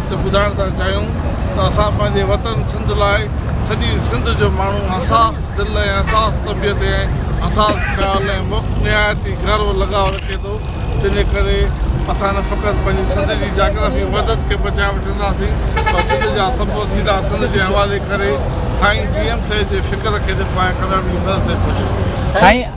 تي ٻڌائڻ ٿا چاهيون ته اسان پنهنجي وطن سنڌ لاء سڄي سنڌ جو ماڻهو حساس دل ۽ حساس طبيعت ۽ حساس خيال ۽ مک نهايت ئي گهرو لڳاء رکي ٿو تنهن جي ڪري اسان نه فقط پنهنجي سنڌ جي جاگرافي وحدت کي بچائي وٺنداسين پر سنڌ جا سڀ وسيلا سنڌ جي حوالي ڪري سائين جي ايم سيد جي فڪر کي جيڪو آهي ڪڏهن به نظر تي پهچي سائين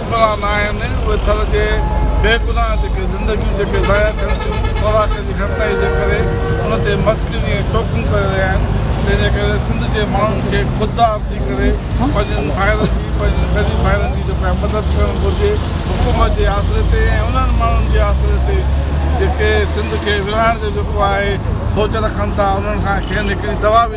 ڪپرا نه آهن، اهي ٿر جي بي گناهه جيڪي زندگيون جيڪي ضايع ٿين ٿيون، خوراڪ جي گهٽتائي جي ڪري ان تي مسخري ۽ ٽوڪون ڪري رهيا آهن، تنهن جي ڪري سنڌ جي ماڻهن کي خوددار ٿي ڪري پنهنجن ڀائرن جي، پنهنجن غريب ڀائرن جي جو پيا مدد ڪرڻ گهرجي حڪومت جي آسري تي ۽ انهن ماڻهن جي آسري تي جيڪي سنڌ کي ورهائڻ جو جيڪو آهي سوچ رکن ٿا، انهن کان کين هڪڙي دوا به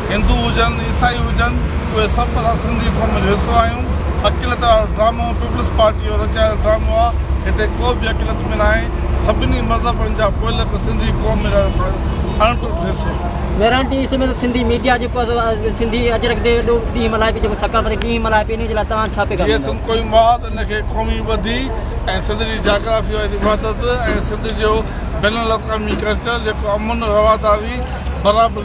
هندو هجن عيسائي هجن اهي سڀ اسان سنڌي قوم جو حصو آهيون اقليت وارو ڊرامو پيپلز پارٽي جو رچايل ڊرامو آ هتي ڪو به اقليت ۾ ناهي سڀني مذهبن جا پوئلڳ سنڌي قوم ۾ رهڻ وارو اڻ ٽٽ حصو. مهراڻ جي سميت سنڌي ميڊيا جيڪو سنڌي اجرڪ ڊي جو ڏينهن ملهائي پئي جيڪو ثقافتي ڏينهن ملهائي پئي ان جي لاء توهان ڇا پيغام ڏيندا جيسن ڪوئي مواد ان کي قومي ٻڌي ۽ سنڌ جي جاگرافي واري وحدت ۽ سنڌ جو بين الاقوامي ڪلچر جيڪو امن رواداري برابري